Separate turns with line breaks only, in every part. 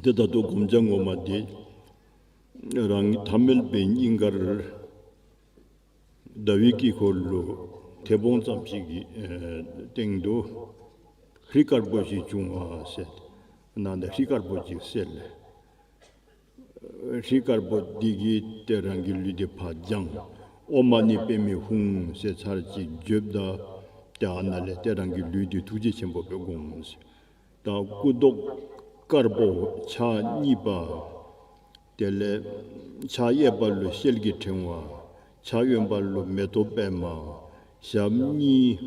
དེ་ལྟ་དུ་བསྒོམ་བྱ་ངོ་མ་དེ་རང་ཐ་མལ་པའི་སྙིང་གར་ཟླ་བའི་དཀྱིལ་འཁོར་ལོ་དེ་བོང་ཙམ་ཞིག་གི་སྟེང་དུ་ཧྲི་དཀར་པོ་ཞིག་བྱུང་བ་གསལ། ནང་དུ་ཧྲི་དཀར་པོ་ཅིག་གསལ། ཧྲི་དཀར་པོ་འདི་གིས་ཏེ་རང་གི་ལུས་འདི་བག་སྦྱངས། ཨོ་མ་ནི་པད་མའི་ཧཱུྃ་ཟེར་ཚར་གཅིག་བརྗོད། ཏེ་ཨ་ན་ལས་ཏེ་རང་གི་ལུས་འདི་ཐུགས་རྗེ་ཆེན་པོ་པའི་དགོངས། དང་སྐུ་མདོག་དཀར་པོ་ཕྱག་གཉིས་པ། དེ་ལས་ཕྱག་གཡས་པ་ལུས་ཤེལ་གྱི་ཕྲེང་བ། ཕྱག་གཡོན་པ་ལུས་མེ་ཏོག་པད་མ། ཞབས་གཉིས་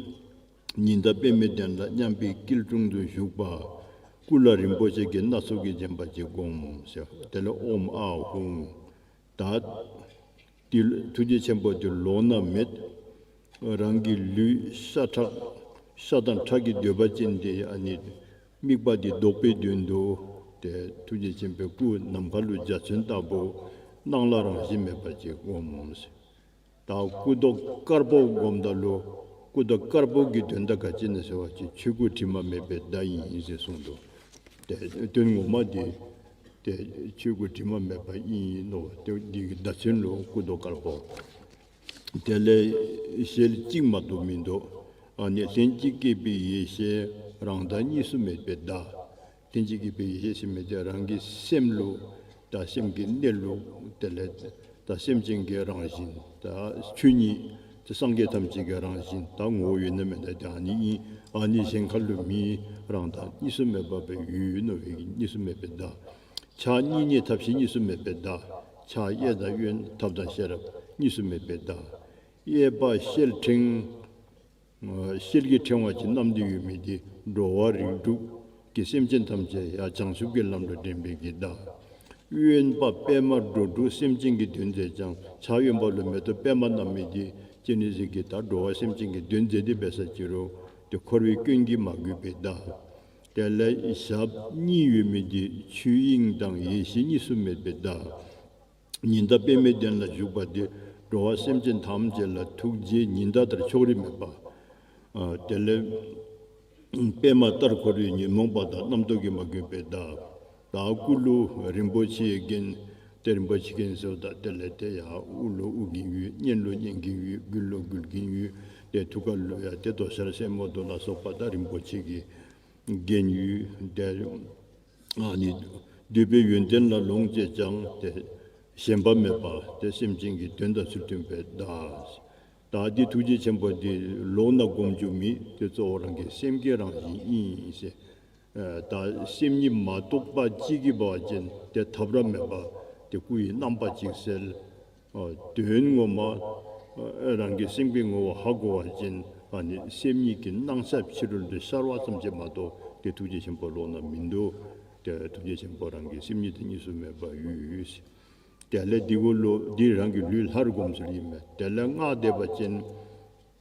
ཉི་ཟླ་པད་མའི་གདན་ལ་མཉམ་པའི་སྐྱིལ་ཀྲུང་དུ་བཞུགས་པ། སྐུ་ལ་རིན་པོ་ཆེ་གྱི་སྣ་ཚོགས་ཀྱིས་བརྒྱན་པ་གཅིག་བསྒོམ། དེ་ལས་ཨོམ་ཨ་ཧུ། ད། འདི་ཐུགས་རྗེ་ཆེན་པོ་འདི་ལོག་ན་མེད། རང་གི་ལུས་ས་ཁྲག། ས་དང་ཁྲག་གི་འདོད་པ་ཅན་དེ་ནི། དམིགས་པ་འདི་བཟློག་པའི་དོན་དུ། དེ་ཐུགས་རྗེ་ཆེན་པོའི་སྐུ་ནམ་མཁའ་ལུས་འཇའ་ཚོན་ལྟ་བུ། སྣང་ལ་རང་བཞིན་མེད་པར་གྱིས་བསྒོམ། ད་སྐུ་རྡོ་དཀར་པོ་སྒོམ་ད་ལོ་སྐུ་རྡོ་དཀར་པོ་གི་དོན་ད་ག་ཅི་ནས་ཟེར་བ་ཅིག་ཆོས་སྐུ་དྲི་མ་མེད་པའི་བརྡ་ཡིན་ཟེར་གསུངས་འདུག་དེ་དོན་ངོ་མ་དེ་དེ་ཆོས་སྐུ་དྲི་མ་མེད་པ་དབྱིན་ཡིག་ནོ་བ་དེ་འདི་གི་བརྡ་ཚིག་ལོ་སྐུ་རྡོ་དཀར་པོ་དེ་ལས་ཞལ་གཅིག་མ་གཏོགས་མི་འདུག་ཨ་ནི་ལྷན་ཅིག་སྐྱེས་པའི་ཡེ་ཤེས་རང་བདག་གཉིས་སུ་མེད་པའི་བརྡ་རྟེན་ཅིང་སྐྱེས་པའི་ཡེ་ཤེས་ཤེས་མེད་ཀྱི་རང་གི་སེམས་ལུགས་དང་སེམས་ཀྱི་གནས་ལུགས་དེ་ལས་དང་སེམས་ཅན་གྱི་རང་བཞིན་དང་ཆོས་ཉིད་དེ་སངས་རྒྱས་ཐམས་ཅད་ཀྱི་རང་བཞིན་དང་ངོ་བོ་ཡོད་ན་མེད་ན་ཀྱང་ནི་ཡིན་ཨ་ནི་ཞེན་ཁ་ལུས་མི་རང་དང་གཉིས་སུ་མེད་པ་བའི་ཡུལ་ཡིན་ནོ་བས་ཀྱི་གཉིས་སུ་མེད་པའི་བདག་ཆགས་གཉིས་གཉིས་ཐབས་ཤེས་གཉིས་སུ་མེད་པའི་བདག་ཆགས་དབྱེ་དང་དབྱེ་ཐབས་དང་ཤེས་རབ་གཉིས་སུ་མེད་པའི་བདག་དབྱེ་པ་ཤེལ་ཕྲེང། གསེར་གྱི་ཕྲེང་བ་ཅན་རྣམས་འདི་ཡོད་མིན་ཏེ་འགྲོ་བ་རིགས་དྲུག་གི་སེམས་ཅན་ཐམས་ཅད་ཡང་བྱང་ཆུབ་ཀྱི་ལམ་དུ་འདྲེན་པའི་གྱིས་གདའ། གཡོན་པ་པདྨ་འགྲོ་དྲུག་སེམས་ཅན་གྱི་དོན་མཛད་ཅིང་བྱང་གཡོན་པ་ལུས་མེ་ཏོག་པདྨ་རྣམས་མེད་དེ། ཅེས་ནི་གཟིགས་ཀྱིས་དང་འགྲོ་བ་སེམས་ཅན་གྱི་དོན་མཛད་དེ་འབད་ས་ཅི་རུ། དེ་འཁོར་བའི་སྐྱོན་གྱིས་མ་གོས་པའི་གདའ། དེ་ལས་ཞབས་གཉིས་ཡོད་མིན་ཏེ་ཆོས་དབྱིངས་དང་ཡེ་ཤེས་གཉིས་སུ་མེད་པའི་གདའ། ཉི་ཟླ་དཔེ་མེད་གདན་ལ་བཞུགས་པ་འདི། འགྲོ་བ་སེམས་ཅན་ཐམས་ཅད་ལ་ཐུགས་རྗེའི་ཉི་ཟླ་ལྟར་ཕྱོགས་རིས་མེད་པ། དེ་ལས་པད་མ་ལྟར་འཁོར་བའི་ཉོན་མོངས་པ་དང་རྣམ་རྟོག་གིས་མ་གོས་པའི་བདག། དང་སྐུ་ལུས་རིན་པོ་ཆེའི་རྒྱན། དེ་རིན་པོ་ཆེ་གིང་སོ་དང་དེ་ལས་དེ་ཡང་དབུ་ལུས་དབུ་གིང་ཡུལ་སྙན་ལུས་སྙན་གིང་ཡུལ་མགུལ་ལུས་མགུལ་གིང་ཡུལ། དེ་ཐུགས་ཀར་ལུས་ཡང་དེ་དོ་ཤལ་སེན་མོ་དོ་ལ་སོགས་པ་དང་རིན་པོ་ཆེ་གི་རྒྱན་ཡུལ། དེ། ནི། འདུས་པའི་ཡོན་ཏན་ལ་ལོངས་སྤྱད་ཀྱང་སྟེ། ཞེན་པ་མེད་པ་སྟེ་སེམས་ཅན་གྱི་དོན་དང་ཚུལ་མཐུན་པའི་བདག། དེ་ཐུགས་རྗེ་ཆེན་པོ་འདི་ལོགས་ན་བསྒོམ་རྒྱུ་མི་དེ་གཙོ་བོ་རང་གི་སེམས་ཀྱི་རང་བཞིན་དབྱིངས། དང་སེམས་ཉིད་མ་རྟོགས་པ་གཅིག་གི་བ་ཅན་དེ་འཐབ་ར་མེད་པ་སྟེ་སྐུ་ཡི་རྣམ་པ་གཅིག་གསལ། དོན་ངོ་མ། རང་གི་སེམས་ཀྱི་ངོ་བོ་ཧ་གོ་བ་ཅན་ཨ་ནི་སེམས་ཉིད་ཀྱི་སྣང་ས་ཕྱི་རོལ་དུ་ཤར་བ་ཙམ་གྱིས་མ་གཏོགས་ཏེ་ཐུགས་རྗེ་ཆེན་པོ་ལོགས་ན་མི་འདུག་སྟེ་ཐུགས་རྗེ་ཆེན་པོ་རང་གི་སེམས་ཉིད་དེ་གཉིས་སུ་མེད་པ་ཡུས། དེ་ལས་འདི་གོ་ལོ་འདིས་རང་གི་ལུས་ལྷར་བསྒོམ་ཚུལ་ཡིན་པས་དེ་ལས་སྔགས་བཟླས་པ་ཅན།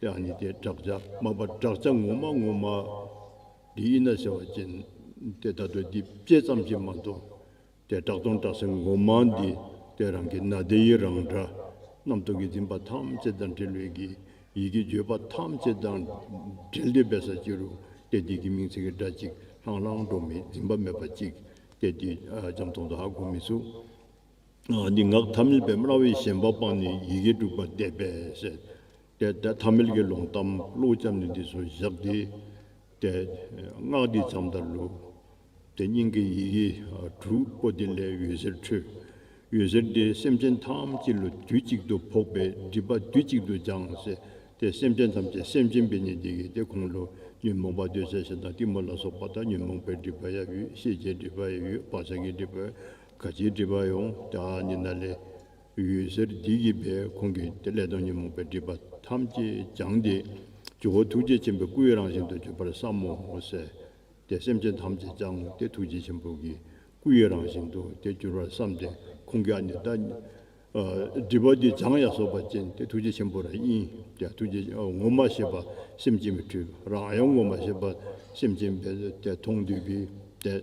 དེའང་ནི་དེ་བསྒྲགས་བྱ་མ་པ་བསྒྲགས་བྱ་ངོ་མ་ངོ་མ་འདི་ཡིན་ན་ཟེར་བ་ཅན་དེ་ད་དུ་འདི་བཅད་ཙམ་ཞིག་མ་མཐོང། དེ་བསྒྲགས་དང་བསྒྲགས་སའི་ངོ་མ་འདི་དེ་རང་གི་ན་དེ་ཡི་རང་སྒྲ། རྣམ་རྟོག་གིས་འཛིན་པ་ཐམས་ཅད་དང་འབྲེལ་བས་ཀྱི་ཡིད་ཀྱི་བརྗོད་པ་ཐམས་ཅད་དང་འབྲེལ་འདི་བས་ས་བཅད་རུ་སྟེ་དེ་གི་མིང་ཚིག་གི་སྒྲ་གཅིག་ལྷང་ལྷང་སྒྲོག་མེད་འཛིན་པ་མེད་པ་གཅིག་སྟེ་དེ་ལྕམ་ཐོག་མདའ་སྒོ་མི་ཚུགས། འདི་ངག་ཐ་མིལ་པའི་སྨྲ་བའི་ཞེན་པ་སྤངས་ནས་ཡི་གེ་དྲུག་པ་བཟླས་པས། དེ་ཐ་མིལ་གྱི་ལུང་གཏམ་བློ་བཅབས་ནས་འདི་ཚོ་བཞག་སྟེ། སྔགས་འདི་ཙམ་དང་ལུགས་དེ་སྙིང་གི་ཡི་གེ་དྲུག་པོ་དེ་ལས་འོད་ཟེར་འཕྲོས། འོད་ཟེར་དེས་སེམས་ཅན་ཐམས་ཅད་ལ་དུས་གཅིག་ཏུ་ཕོག་པས་སྒྲིབ་པ་དུས་གཅིག་ཏུ་སྦྱངས། དེས་སེམས་ཅན་ཐམས་ཅད་སེམས་ཅན་པའི་ནི་འདི་གི་སྟེ་ཁོང་ལོ་ཉོན་མོངས་པ་འདོད་ཆགས་ཞེན་དང་གཏི་མུག་ལ་སོགས་པ་དང་ཉོན་མོངས་པའི་སྒྲིབ་པ་ཡང་ཡོད་ཤེས་བྱའི་སྒྲིབ་པ་ཡང་ཡོད་བག་ཆགས་ཀྱི་སྒྲིབ་པ་ག་ཅིའི་སྒྲིབ་པ་ཡོངས་བསྐྱང་ཉི་ཟླ་ལས། ཡུལ་ཟེར་བདུད་ཀྱི་སྦས་ཁོང་གིས་དེ་ལས་སྟོང་ཉོན་མོངས་པའི་སྒྲིབ་པ་ཐམས་ཅད་སྦྱངས་ཏེ། ཇོ་བོ་ཐུགས་རྗེ་ཆེན་པོའི་སྐུའི་རང་བཞིན་དུ་གྱུར་པར་བསམ་མོ། གསལ་ཏེ་སེམས་ཅན་ཐམས་ཅད་སྦྱངས་ཏེ་ཐུགས་རྗེ་ཆེན་པོ་གི་སྐུའི་རང་བཞིན་དུ་དེ་གྱུར་པར་བསམ་སྟེ་ཁོང་གིས་ཨ་ནི་ད། སྒྲིབ་པ་འདི་སྦྱངས་ཡ་སོགས་པ་ཅན་ཏེ་ཐུགས་རྗེ་ཆེན་པོ་ར་ཨིན་ཏེ་ཐུགས་རྗེ་ངོ་མ་ཤེས་པ་སེམས་ཅན་པའི་འཁྲུལ་རང་ཡང་ངོ་མ་ཤེས་པ་སེམས་ཅན་པའི་དེ་མཐོང་འདོད་ཀྱི་དེ།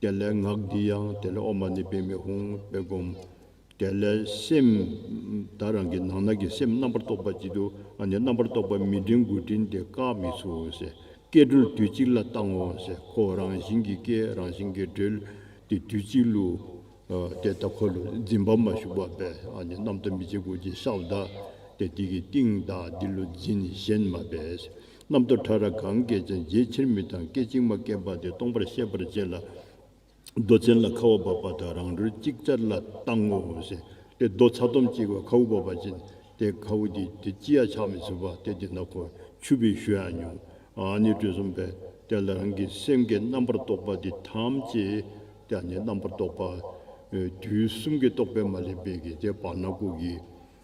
དེ་ལས་ངག་འདི་ཡང་དེ་ལས་དབུ་མ་ནི་དཔེ་མི་ཧུང་བས་བསྒོམ། དེ་ལས་སེམས་དང་རང་གི་ནང་ན་གྱི་སེམས་རྣམ་པར་རྟོག་པ་གཅིག་ཏུ་ཨ་ནི་རྣམ་པར་རྟོག་པ་མི་འབྲིང་དགུ་འབྲིང་སྟེ་བཀག་མི་ཚུགས་འོང་ཟེར་སྐད་སྒྲོལ་དུས་གཅིག་ལ་བཏང་ངོ་ཟེར་ཁོ་བོ་རང་བཞིན་གྱི་སྐད་རང་བཞིན་གྱི་སྒྲོལ་ཏེ་དུས་གཅིག་ལུ། དེ་ལྟ་འཁོར་ལོ་འཛིན་པ་མ་ཞུགས་པ་བས་ཨ་ནི་རྣམ་རྟོག་མི་བྱེད་དགུ་ཅིག་ཤའུ་དག་སྟེ་དེ་ཀྱི་སྟེང་དང་འདི་ལུ་འཛིན་གཞན་མ་བས་རྣམ་རྟོག་ཕྲ་རགས་གང་སྐད་ཅིག་འཇལ་ཕྱིར་མི་དང་སྐད་ཅིག་མ་སྐྱེས་པ་དེ་སྟོང་པར་ཤེས་པར་བྱས་ལ། རྡོ་ཚན་ལ་ཁ་བ་བབས་པ་དང་རང་གྲོལ་ཅིག་ཅར་ལ་བཏང་ངོ། ཞེས་ཏེ་རྡོ་ཚ་དོམ་གཅིག་བ་ཁའུ་བབས་པ་ཅན་དེ་ཁའུ་དེ་དེ་ཅི་ཡང་ཆགས་མི་བྱེད་པ་སྟེ་དེ་ན་ཁོ་ཆུད་པའི་ཞོ་ཡང་ཉུང། ནི་དྲོད་གསུམ་པས་དེ་ལ་རང་གི་སེམས་ཀྱི་རྣམ་པར་རྟོག་པ་དེ་ཐམས་ཅད་དེ་ནི་རྣམ་པར་རྟོག་པ། དུས་གསུམ་གྱི་རྟོག་པས་མ་བསླད་པའི་གེགས་བྱེད་བར་སྣ་ལྐུགས་ཀྱི།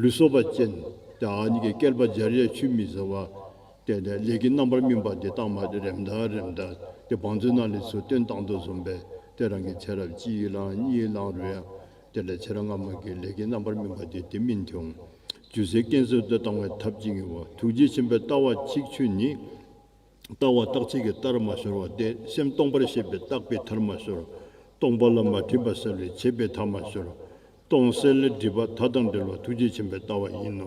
ལུས་སོགས་པ་ཅན། གཉིས་ཀའི་བསྐལ་པ་སྦྱར་ཡས་ཆུད་མི་ཟ་བ། བརྟེན་ནས་ལས་ཀྱི་རྣམ་པར་སྨིན་པ་འདི་དག་མ་རེམ་ད་རེམ་ད། དེ་བང་མཛོད་ནང་ལས་སུ་སྟོན་བཏང་དུ་བཟུང་བས་དེ་རང་གི་ཚེ་རབས་གཅིག་བླངས་གཉིས་བླངས་རུ་ཡང། དེ་ལས་ཚེ་རབས་སྔ་མ་གི་ལས་ཀྱི་རྣམ་པར་སྨིན་པ་འདི་དེ་སྨིན་བྱུང། རྒྱུ་ཟེར་སྐྱེ་འཚོལ་དུ་བཏང་བའི་ཐབས་ཅིག་ངེས་བ་ཐུགས་རྗེ་ཆེན་པོའི་ལྟ་བ་ཆིག་ཆོད་ནི། ལྟ་བ་རྟག་ཚིག་གི་ལྟར་མ་ཤོར་བ་སྟེ་སེམས་སྟོང་པར་ཤེས་པའི་རྟག་པའི་མཐར་མ་ཤོར། སྟོང་པ་ལ་མ་འཁྲིས་པ་བསལ་བའི་བྱེད་པའི་མཐའ་མ་ཤོར། སྟོང་གསལ་ལས་སྒྲིབ་པ་མཐའ་དང་འབྲེལ་བ་ཐུགས་རྗེ་ཆེན་པོའི་ལྟ་བ་ཡིན་ནོ།